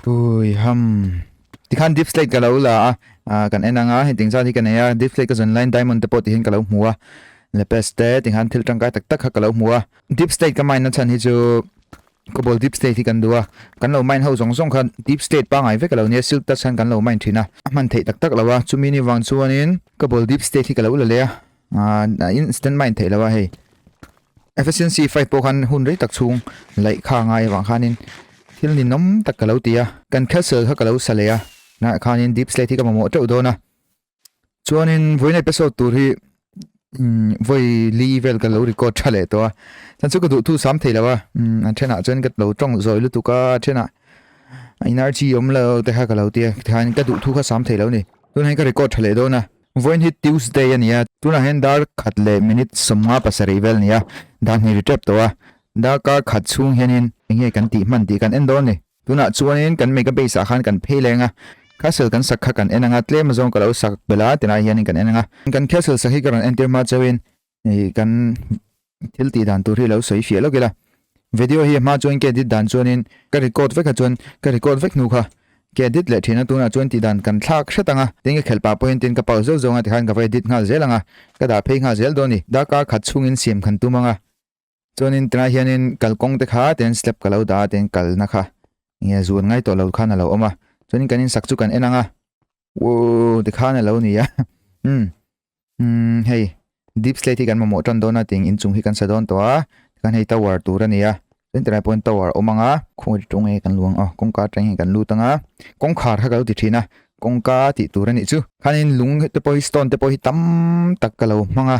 Ui ham. Tikhan deep slate ka lo la a ah, kan en anga heng ting zan hi kan nei a deep slate ka zon line diamond te pawh tihin ka lo hmu a lapes te tikhan thil tangkai tak tak kha ka lo hmu a deep slate ka mine na chan hi chu cobalt deep slate hi kan du a kan lo mine ho zong zong khan deep slate pa ngai vek a lo nia silk ta chan kan lo mine thin a a man thei tak tak lo a chumi ni vang chuanin cobalt deep slate hi ka lo la le a Ah, a in stand mind thei lawa hei. Efficiency fight po khan hun rei tak chung lai kha ngai awang khanin thil ni nom tak ka lo tia kan castle kha ka lo sa leya na khanin deep slate hi ka momo teu dona chuanin voina episode tur hi voi li vel ka lo record tha le to a chan chu ka du thu sam thei lawa an thena chuan ka lo tong zoi lu tuka thena energy om lo te kha ka lo tia khan ka du thu kha sam thei lo ni tun han ka record tha le dona Vawiin hi Tuesday a nia, tunah hian dar khat leh minute sawmnga pasarih vel a ni a, dah hnih ri tep tawh a, darka khat chhung hianin eng nge kan tih hman tih kan en dawn ni. Tunah chuanin kan make-a base ah khan kan phei leng a, castle kan sak kha kan en ang a, tlem azawng ka lo sak bela tilai hianin kan en ang a, kan castle sak hi ka rawn entir hma chauhin hei kan thil tih dan tur hi lo sawi fiah lawk ila video hi hma chuan ke edit dan chuan in ka record vek a chuan ka record vek hnu kha ke edit leh thin a tuna chuan tih dan kan thlak hret anga tin ka khel pah pawhin tin ka pau zeuh zeuh anga tikhan ka va edit nghal zel anga ka dah phei nghal zel dawn a ni darkar khat chhungin siam khan tum anga Chuanin tunai hianin kalkawng te kha ten slab ka lo dah a ten kalna kha nge zuan ngai tawh lo khan a lo awm a chuanin kan insak chu kan en ang a wo ti khan a lo ni a um um hei deep slate hi kan mamawh tan dawn a tiang inchung hi kan sa dawn tawh a kan hei tower tur a ni a chuan tunai pawhin tower awm ang a khawi ri tawh nge kan luang a kawngka atang nge kan lut ang a kawngkhar kha ka lo ti thin a kawngka tih tur a nih chu khanin lung te pawh hi stone te pawh hi tam tak ka lo hmang a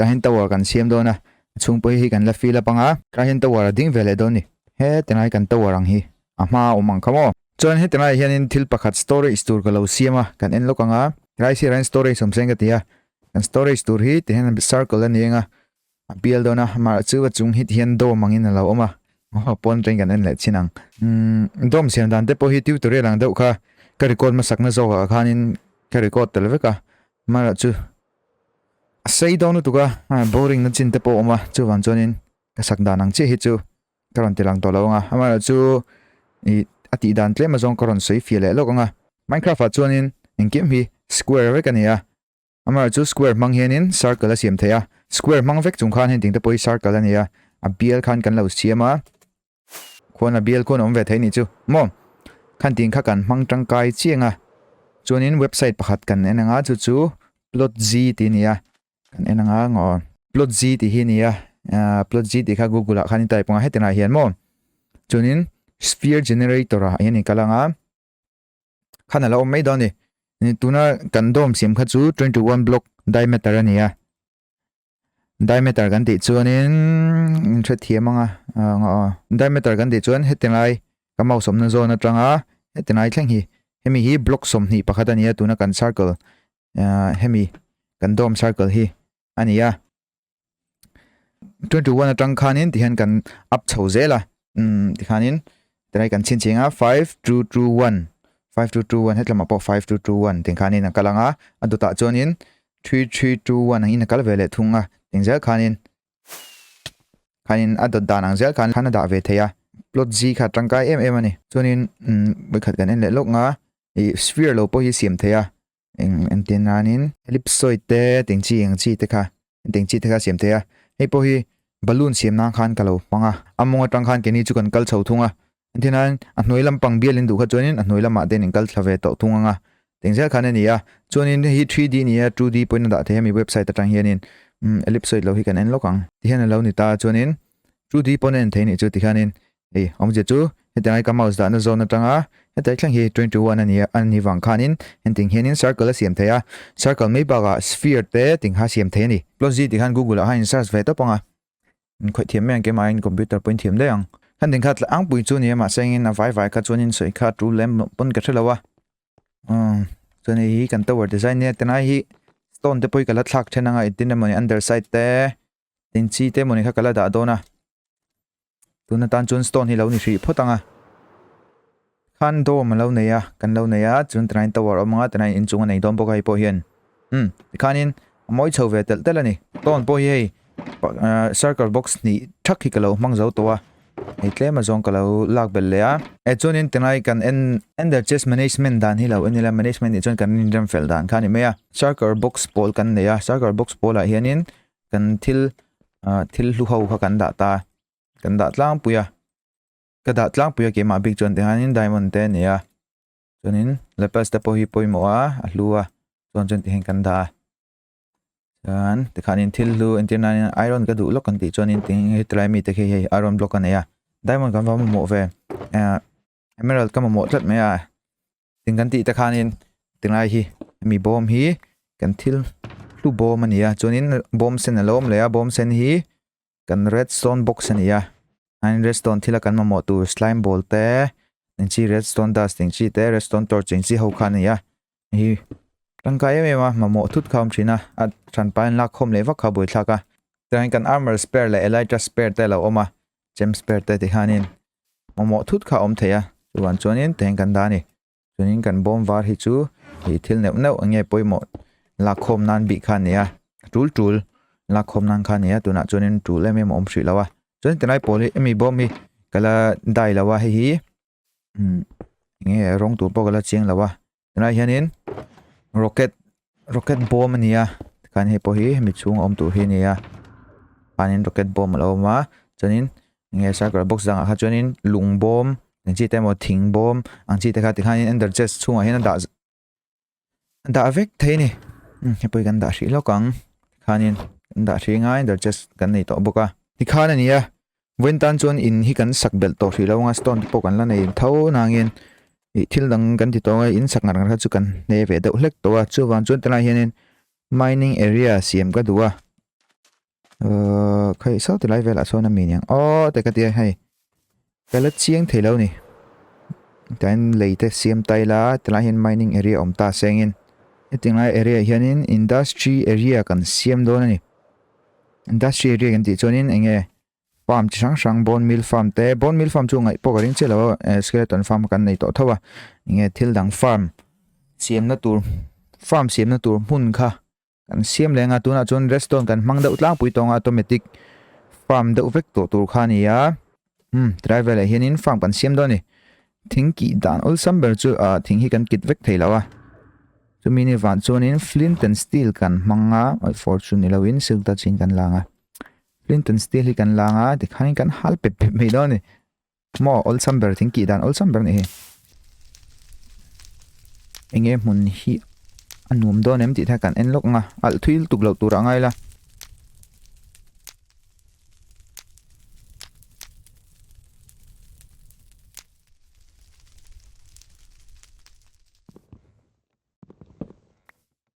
Kahyn Tower kan siam dawn a, a chhung pawh hi hei kan la fill up ang a. Kahyn Tower a ding ve leh dawn ni. He Tenai kan Tower ang hi a hma a awm ang kha maw? Chuan he Tenai hianin thil pakhat storage tur ka lo siam a, kan en lawk ang a. Helai sirah hian storage awm se ang ka ti a. Kan storage tur hi ti hian circle a ni ang a, a bial dawn a, amah chu a chung hi ti hian dome angin a lo awm a. Aw, pawn aṭangin kan en leh chin ang. Umm, dome siam dan te pawh hi tutorial ang deuh kha ka record hmasakna zawkah khanin ka record tel vek a, amanah chu a sei dawn lutuk a boring na chin te pawh awm a chuvang chuanin ka sak dan ang chiah hi chu ka rawn ti lang tawh lo anga amaherawh chu i a tih dan tlem azawng ka rawn sawi fia leh lawk anga minecraft ah chuanin engkim hi square vek a nei a amaherawh chu square hmang hianin circle a siam thei a square hmang vek chung khan heng ting te pawh hi circle a nei a a bial khan kan lo siam a Khuana bial khuan awm ve thei nih chu maw? Khan tih kha kan hmang tangkai chiang a. Chuanin website pakhat kan en ang a, chu chu Plotz tih ni a, kan en ang a ngaw. Plotz tih hi ni a, Plotz tih kha Google ah khan i type ang a heti lah hian maw? Chuanin Sphere Generator ah hian i kal ang a. Khan a lo awm mai dawn a ni. Tuna kan dawm siam kha chu twenty one block diameter a ni a. Diameter kan tih chuanin hre thiam anga diameter kan tih chuan heti ngai ka mouse awmna zone atanga heti ngai thleng hi hemi hi block sawmhnih pakhat ania tuna kan circle hemi kan dome circle hi ania 21 atang khanin tihian kan up chho zela um tikhanin tilai kan chhin ching a five two two one five two two one hetlamah pawh five two two one tih khanin a kal ang a a dawtah chuanin three three two one ang in a kal ve leh thung a eng zel khanin khanin a dawt dan ang zel khan khan a dah ve thei a plot z kha tangkai em em a ni chuanin um khat kan en leh lawk nga ih sphere lo pawh hi siam thei a eng engtin nanin ellipsoid te teng chi eng chi te kha teng chi te kha siam thei a hei pawh hi balloon siam nan khan ka lo hmang a a mawng atang khan keni chu kan kal chho thung a tihnain a hnuai lampang bial in duh kha chuanin a hnuai lamah ten in kal thla ve tawh thung ang a teng zel khan a ni a chuanin hei hi three d nia two d pawhin a dah thei a hemi website atang hianin ellipsoid lo hi kan en lawk ang ti hian a lo ni ta chuanin two d pawn a en thei anih chu tikhanin Hei, awm zia chu hetiang laika mouse dahna zawn atanga heta thleng hi twenty one a nia, a ni vang khanin engtin hianin circle a siam thei a, circle mai bakah sphere te ting kha siam thei a ni. Plot zite khan Google ah hian in search ve tawp ang a, in khawih thiam mai ang kemahin in computer pawh in thiam daih ang. Khan ding kha tla angpui chu a nia mahse engin a vai vai kha chuan in sawi kha a tul lem loh pawn ka hre lo a. Umm, chuan hei hi kan tower design nia, ti lai hi stone te pawh hi ka la thlak then anga, in tin emaw ni underside te, in chi te mawni kha ka la dah dawn a tuna tan chuan stone hi lo ni hrih phawt ang a khan dome a lo nei a kan lo nei a chuan tanain tower awm anga tanain in chunga nei dawn bawk a hei pawh hian um tikhanin a mawi chho ve tel tel a ni stone pawh hi hei uh, circle box ni thak hi ka lo hmang zo tawh a hei tlema zawng ka lo lak bel leh a e chuanin tanai kan en ender chest management dan hi lo enila management ni chuan kan in rem fel dan kha ni mai a circle box pawl kan nei a circle box pawlah hianin kan thil ah thil hlu ho kha kan dah ta kan dah tlangpui a ka dah tlangpui a keimah bik chuan tihianin diamond te a nei a chuanin lapels te pawh hi pawimawh a a hlu a chuan chuan tihin kan dah a chuan tikhanin thil hlu entir nana hian iron ka duh lawk kan tih chuanin tihin hetilai mite khi hei iron block a nei a diamond kan va mamawh ve ah. Emerald ka mamawh tlat mai a, tin kan tih te khanin tilai hi mi bawm hi kan thil hlu bawm a nia chuanin bawm sen a lo awm leh a bawm sen hi kan redstone box a nia an redstone thila kan mamawh tur slime ball te engchi redstone dust engchi te redstone torch engchi ho kha a nia Hi tangkai em em a mamawh thut kha awm thin a a than pain lak khawm leh vak kha a buai thlak a tichuan kan armor spare leh elytra spare te lo awm a gem spare te ti hian in mamawh thut kha awm thei a chuan chuan in tichuan kan dah a ni chuanin kan bawm var hi chu ih thil neuh neuh enge pawimawh lak khawm nan bik kha a ni a tul tul lak khawm nan kha a ni a tunah chuan in tul em em a awm hrih lo a chuan tilai pawl hi mi bawm hi kala dai lo a hei hi umm eng nge rawng tur pawh ka la chiang lo a tunah hianin rocket rocket bawm a nia tikhan hei pawh hi hemi chhung a awm tur hi a nia panin rocket bawm a lo awm a chuanin eng nge sakawr box zangah kha chuanin lung bawm engchi te emaw thing bawm ang chi te kha tikhanin enderchest chhungah hian a dah-- dah vek thei ni hmm, hepui kan dah hrih lawk ang khanin kan dah hrih ngai der chest kan nei tawh bawk a ti khan a nia voin tan chuan in hi kan sak bel tawh hrih lo nga stone te pawh kan la nei tho nangin i thil dang kan ti tawng a in sak ngar ngar kha chu kan hne ve deuh hlek tawh a chu vang chuan tilai hianin mining area siam ka duh a Uh, khai sao tilai vel aso na mi niang. Oh, te ka ti hai. Ka la chiang thei lo ni. Tain lei te siam tai la, tilai hin mining area om ta sengin. E ting lai area hianin industry area kan siam do na ni. Industry area kan ti chuanin enge farm chi sang sang bone meal farm te bone meal farm chu ngai po ka ring che lo eh, skeleton farm kan nei to thawa. Enge thil dang farm siam na tur farm siam na tur hmun kha. Kan siam leh nga tunah chuan redstone kan hmang deuh tlangpui tawnga automatic farm deuh vek tawh tur kha nia um tilai velah hianin farm kan siam dawn ni thing ki dan awlsam ber chu a thing hi kan kit vek thei lo a chumi ni van chuanin flint and steel kan hmanga oi fortune ni loin silk ta chin kan langa flint and steel hi kan langa tikhain kan hal pep pep mai dawn ni Maw awlsam ber thing kih dan awlsam ber nehi. Enge hmun hi a nuam dawn em tih thai kan en lawk nga. Alh thuil tuk lo tur angai la.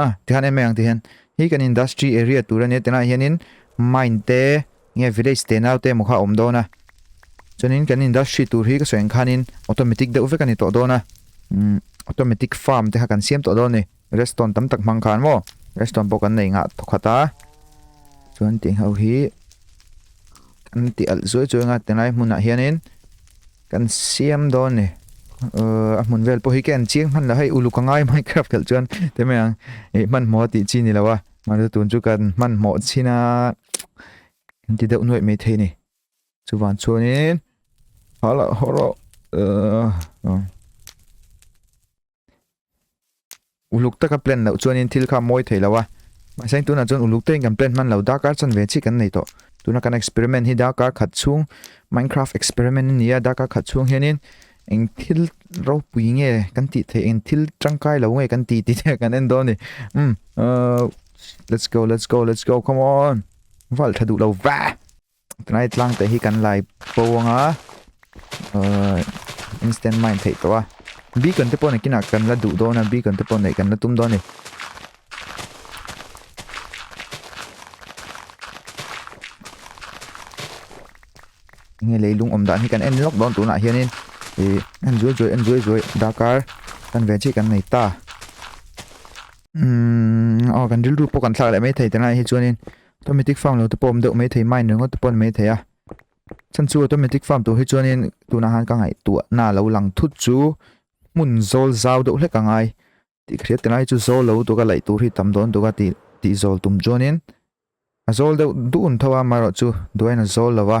A, tihan enmeh ang tihian hi kan industry area tur a nia tunah hianin mine te nge village te nau te emaw kha a awm dawn a chuanin kan industry tur hi ka sawi ang khanin automatic deuh vek a ni tawh dawn a umm automatic farm te kha kan siam tawh dawn a ni redstone tam tak hmang khan maw redstone pawh kan nei nghah thaw khat a chuan tih ang ho hi kan ti alh zuai zuai anga ti lai hmunah hianin Kan siam dawn ni. A hmun vel pawh hi khen chiang hman la hei uluk a ngai Minecraft khelh chuan te mai ang i hman hmaw tih chi ni lo a. Mara tun chu kan hman hmaw chin a. Kan ti deuh nuaih mai thei ni. Chu van chuanin hala horo. Uluk taka plan loh chuanin thil kha mawi thei lo a. Mahse heng tunah chuan uluk tein kan plan hman lo, dark art chuan ve chik an nei tawh. Tuna kan experiment hi dark art khat chhung Minecraft experiment a ni a, dark art khat chhung hianin eng thil ropui nge kan tih theih, eng thil tangkai lo nge kan tih tih te kan en dawn a ni. Umm, uh, let's go, let's go, let's go, come on. Val tha duh lo va! Tunai tlang te hi kan lai po ang a instant mind thei to a bi kan te pon akin a kan la du do na bi kan te pon nei kan la tum do ni nge leilung om dan hi kan en lok don tuna hianin e an zui zui an zui zui dakar kan ve chi kan nei ta um o kan rilru po kan thlak le mai thei tana hi chuanin Automatic farm lo te pawh awm deuh mai thei mine ringawt te pawh a ni mai thei a, chhan chu automatic farm tur hi chuanin tunah han ka ngaihtuahna lo lang thut chu hmun zawl zau deuh hlek a ngai tih ka hriat tilai chu zawl lo duka laih tur hi tam dawn duka tih tih zawl tum chuanin a zawl deuh dun tho a amaherawhchu duain a zawl lo a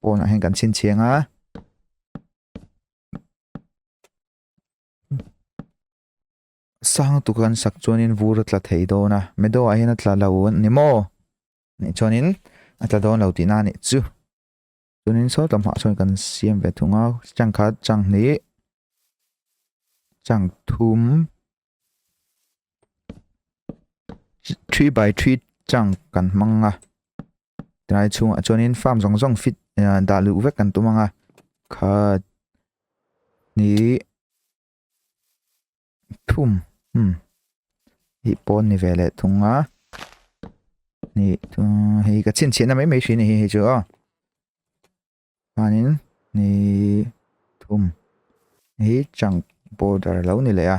pawn ah hian kan chhin chhiang a sang tuk an sak chuan in vur a tla thei dawn a medo ah hian a tla lo a ni maw nih chuan in a tla dawn lo tih na nih chu chuan in sawtlam hah chuan kan siam ve thung a chang khat chang hnih chang thum three by three chang kan hmang a tilai chhung ah chuan in farm zawng zawng fit ah dah luh vek kan tum ang a kha ni thum hmm ih pawn ni ve leh thung a ni thum hei ka chhinchhiahna mai mai hrin a ni hei chu aw. Chuanin ni thum hi chunk border lo ni leh a.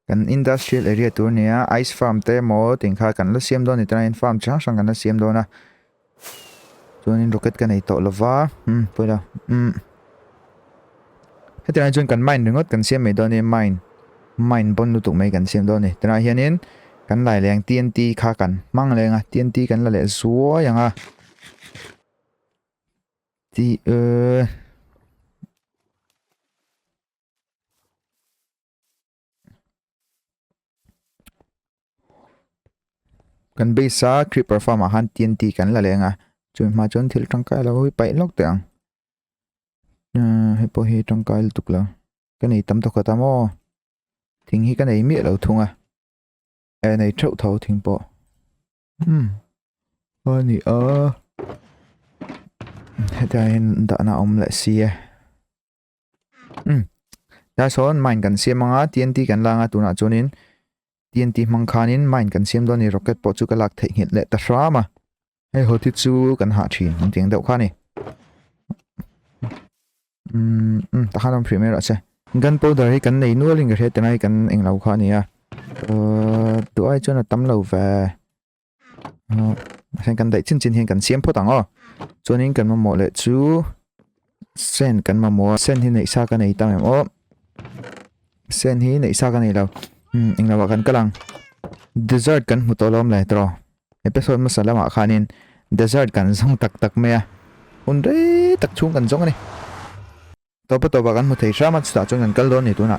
Kan industrial area tur nia ice farm te maw tin kha kan la siam dawn ni tana in farm chi hrang hrang kan la siam dawn a. Chuanin rocket ka nei tawh lova. Hmm pawila. Hmm. Heti lai chuan kan mind ringawt kan siam mai dawn a ni, mind, mind bawn lutuk mai kan siam dawn a ni. Tunah hianin kan laileng TNT kha kan hmang leng a, TNT kan la leh zuai ang a. Ti... kan base a creeper farm ah khan tnt kan la leng a chumi hma ah chuan thil tangkai lo hi paih lawk teh ang hei pawh hi tangkai lutuk lo ka nei tam tawk ta maw thing hi ka nei miah lo thung a eh nei theuh tho thing pawh umm a ni a hetiang in dahna awm leh si e. ta sawn mine kan siam anga TNT kan langa tunah chuanin TNT hmang khanin mine kan siam dawn ni rocket pawh chu ka lak theih nghet leh ta hram a hei ho thi chu kan hah thin ang tiang deuh kha ni um um ta khan awm premier ase gun powder hi kan nei nualin ka hriat tengai kan englo kha ania uh tuai chuan a tam lo ve heng kan daih chin chin hian kan siam phawt ang aw chuanin kan mamawh leh chu sen kan mamawh a sen hi neih sa ka nei ta em aw sen hi neih sa ka nei lo hmm, englo ah kan kal ang dessert kan hmu tawh lawm leh tro episode masa lamah khanin dessert kan zong tak tak mai a un re tak chung kan zong ani topa topa kan hmu thei hrama chutah chuan kan kal dawn ni tuna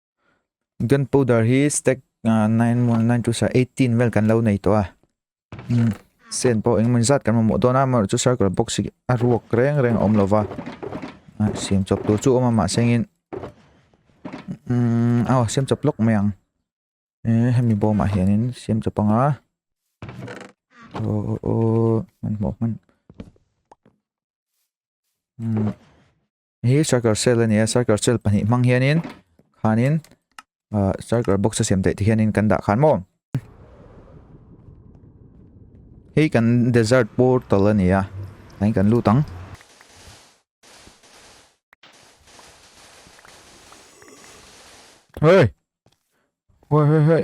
Gunpowder hi stack uh, 9 mo 9 chu sa 18 vel kan lo nei to a. Hmm. Sen po engman zat kan mo don a mar chu circle box hi a ruak reng reng om lova. Ah, sem chop tur chu oma ma sengin. Hmm, aw sem chop lok mai ang. Eh, hemi bo ma hianin sem chop anga. Oh, oh, oh, man mo man. Hmm. Hi striker cell a ni a striker cell pahnih hmang hianin khanin uh, striker box a siam theih ti hianin kan dah khan maw hei kan desert portal a ni a hei kan lut ang hei hei hei hei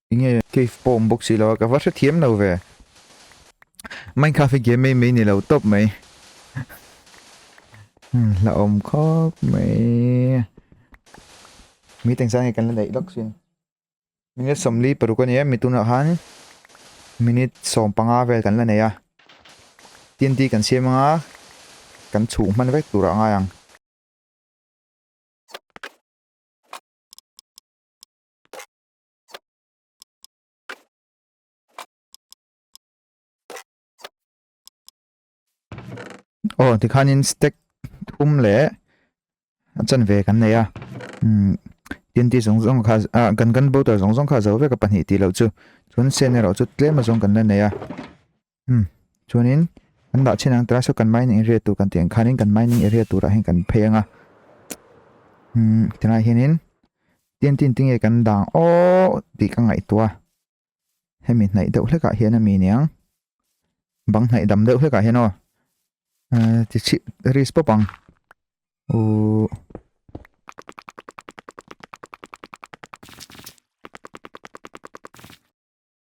Inge. Cave pawh awm bawk si lo a, ka va hre thiam lo ve. Minecraft hi game mei mei ni lo tawp mai. Hla awm khawp mai. Mi teng sang nge kan la neih lawk sin. Minute somli paruk a nia, mi tunah khan minute sawm panga vel kan la nei a. TNT kan siam anga kan chhuh hman vek tur a ngai ang. Aw tikhanin stack thum leh a chan ve kan nei a um TNT zawng zawng kha a gun gun bottle zawng zawng kha zo vek a pahnih tih loh chu chuan sen erawh chu tlem azawng kan la nei a. Hmm. Chuanin, an dah chin ang tira saw kan mining area tur kan tih ang khanin kan mining area turah hian kan phei anga. Hmm. Tilai hianin, tin tin tinge kan dang aww tih ka ngai tua. Hemi hnaih deuh hlekah hian a mi niang. Bang hnaih dam deuh hlekah hian aw. Uh, ti chi, ris pop ang. Uh.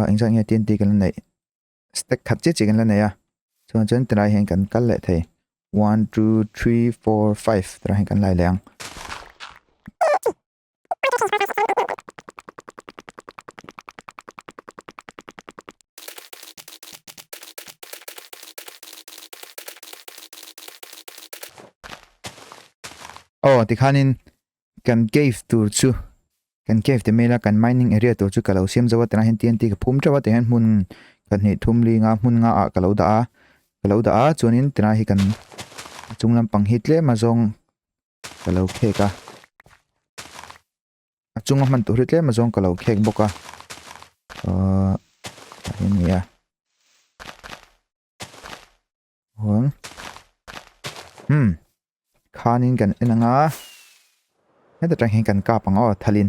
a eng zat nge tnt kan la neih stack that che che kan la nei a chuan chuan tilai hian kan kal leh thei one two three four five tilai hian kan la leh ang. Aw tikhanin kan cave tur chu kan cave te mela kan mining area tur chu ka lo siam zo a tunah hian TNT ka phum teuh a tah hian hmun ka hnih thum linga hmun nga ah ka lo dah a ka lo dah a chuanin tunah hi kan a chung lampang hi tlem azawng-- ka lo khek a a chunga hman tur hi tlem azawng ka lo khek bawk a uh, tah hi nia hon hmm khanin kan en anga heta tang hian kan kap anga aw thalin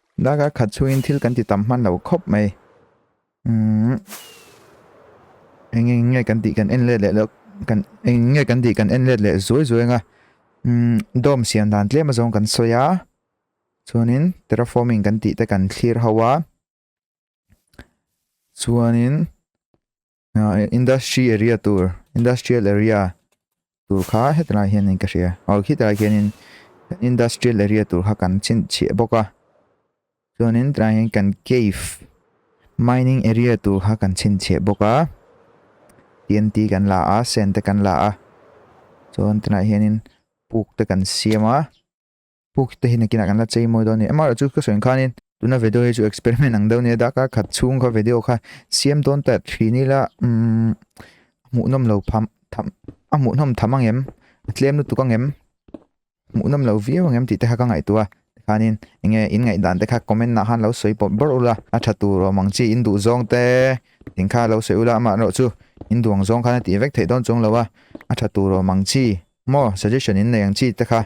Daka khat chungin thil kan ti tam hman lo khawp mai. Um, eng eng nge kan tih kan en let leh lo kan eng nge kan tih kan en let leh zuai zuai nga um dom sian dan tlem a zawng kan sawi a chuanin terraforming kan tih te kan thlir ho a chuanin industry area tur industrial area tur kha hetilai hian in ka hria aw khitah hian in industrial area tur kha kan chin chhe bawk a chuan in tlai hian kan cave mining area tur kha kan chin chhe bawk a TNT kan la a sen te kan la a chuan tlai hian in puk te kan siam a Pu Kite hi nakinah kan la chei mawi dawn a ni. MR-a chu ka sawi ang khanin, tuna video hi chu experiment ang deuh nia, darkar khat chhung kha video kha siam dawn ta thin ila, umm, a hmuhnawm lo pham, tham, a hmuhnawm tham ang em, a tlem lutuk ang em, a hmuhnawm lo viau ang em tih te kha ka ngaihtuah a, tikhanin enge in ngaihdan te kha comment ah khan lo sawi pawp ber ula, a tha tur awm ang chi in duh zawng te tin kha lo sawi ula, amah erawh chu in duh ang zawng khan a tih vek theih dawn chawng lo a, a tha tur awm ang chi maw suggestion in nei ang chi te kha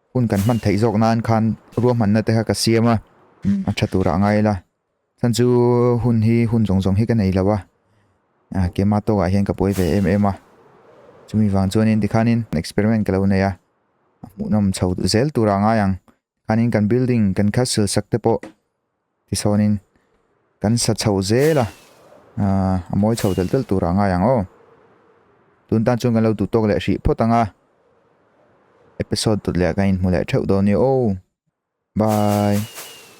hun kan hman theih zawk nan khan ruahmanna te kha ka siam a, a tha turah ngai ila, chhan chu hun hi hun zawng zawng hi ka nei lo a, keima tawkah hian ka buai ve em em a, chumi vang chuanin tikhanin experiment ka lo nei a, a hmuhnawm chho zel turah ngai ang, tikhanin kan building kan kal silsak te pawh Tisaawnin kan sa chhoh zel a, a mawi chhoh telh telh tur a ngai ang aw. Tun tan chuan kan lo duh tawk leh hrih phawt ang a. Episode tut leh kan inhmu leh theuh dawn ni aw. Bye.